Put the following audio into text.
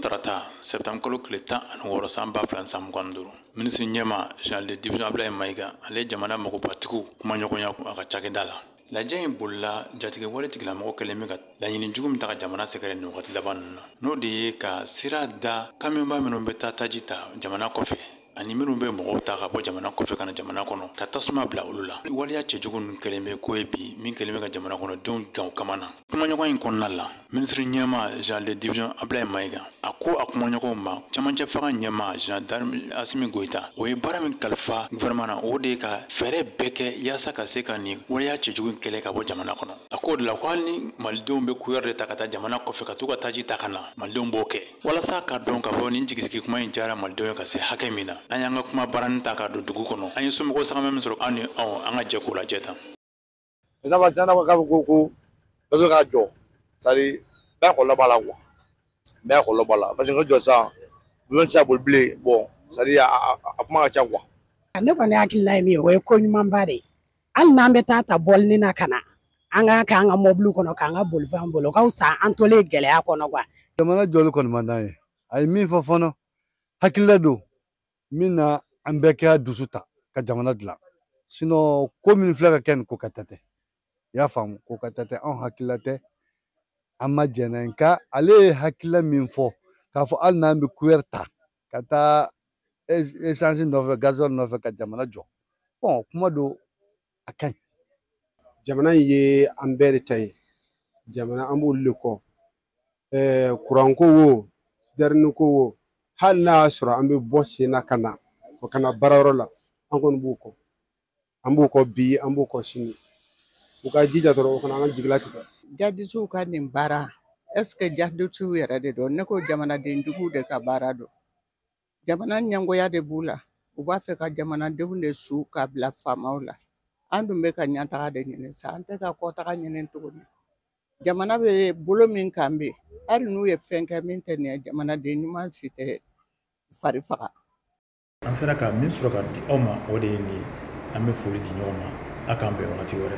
tarata septembre kalo tile tan ani wɔɔrɔ san ba fila san mugan ni duuru minisiri ɲɛma général de division abdoulaye mayiga ale jamana magobatigiw kumaɲɔgɔnya a ka cakɛda la lajɛ in bolila jatigɛwale tigilamɔgɔw kɛlen bɛ ka laɲini jugu min ta ka jamana sɛgɛrɛ nin wagati laban ninnu na n'o de ye ka sira da kamiyɔnba minnu bɛ taa taji ta jamana kɔfɛ ani minnu bɛ mɔgɔw ta ka bɔ jamana kɔfɛ ka na jamana kɔnɔ ka tasuma bila olu la waleya cɛjugu ninnu kɛlen bɛ ko ye bi min kɛlen bɛ ka jamana kɔnɔdenw gan kama na kumaɲɔgɔn in kɔnɔna la minisiri ɲɛma général de division abdoulaye mayiga a ko a kumaɲɔgɔnw ma camancɛ fanga ɲɛma général d'armée asimi goyita o ye baara min kalifa gouvernement na o de ye ka fɛɛrɛ bɛɛ kɛ yaasa ka se ka nin waleya cɛjugu kɛlɛ ka bɔ jamana kɔnɔ a k'o de la ko hali ni malidenw bɛ kuyɛrɛ de ta ka taa jamana kɔfɛ ka t'u ka taji ta ka na malidenw b'o kɛ Walasa k'a dɔn k'a fɔ nin jigisigi kuma in diyara malidenw ye ka se hakɛ min na an y'an ka kumabaranin ta k'a don dugu kɔnɔ an ye somɔgɔw sagama min sɔrɔ aw ni an ka jɛ k'o lajɛ tan ko dɔ bɛ ka jɔ sari bɛɛ kɔlɔlɔ b'a la quoi bɛɛ kɔlɔlɔ b'a la parce que jɔ sisan bulon tɛ se ka boli bilen bon sari a kuma ka ca quoi ne kɔni hakilila ye min ye o ye ko ɲumanba de ye hali n'an bɛ t'a ta bɔlinin na ka na an k'a kɛ an ka mɔbiliw kɔnɔ k'an ka bolifɛnw boli o ka fisa an tolen gɛlɛya kɔnɔ quoi jamana jɔli kɔni man d'an ye a ye min fɔ fɔlɔ hakilila don min na an bɛɛ k'an dusu ta ka jamana dilan sinon ko min filɛ ka kɛ nin ko kɛta tɛ i y'a faamu ko kɛta tɛ anw hakilila tɛ an ma jɛn n'a ye nka ale ye hakilila min fɔ k'a fɔ hali n'an bɛ kuyɛri ta ka taa esansi nɔfɛ gazɔli nɔfɛ ka jamana jɔ bon kuma don a ka ɲi jamana in ye an bɛɛ de ta ye jamana an b'olu le kɔ kuranko wo sitɛriniko wo hali n'a y'a sɔrɔ an bɛ bɔ sen na ka na ka na baarayɔrɔ la an kɔni b'u kɔ an b'u kɔ bi an b'u kɔ sini u ka jija dɔrɔn u kana an ka jigi latigɛ jadisiw ka nin baara est-ce que jadisiw yɛrɛ de don ne ko jamanaden jugu de ka baara don jamana ɲɛngoya de b'u la u b'a fɛ ka jamanadenw de su ka bila faamaw la an dun bɛ ka ɲɛtaga de ɲini sa an tɛ ka kɔtaga ɲini tuguni jamana bɛ bolo min kan bi hali n'u ye fɛn kɛ min tɛ nin ye jamanaden ɲuman si tɛ fari faga an sera ka min sɔrɔ ka di aw ma o de ye nin ye an bɛ foli di ɲɔgɔn ma a k'an bɛn wagati wɛrɛ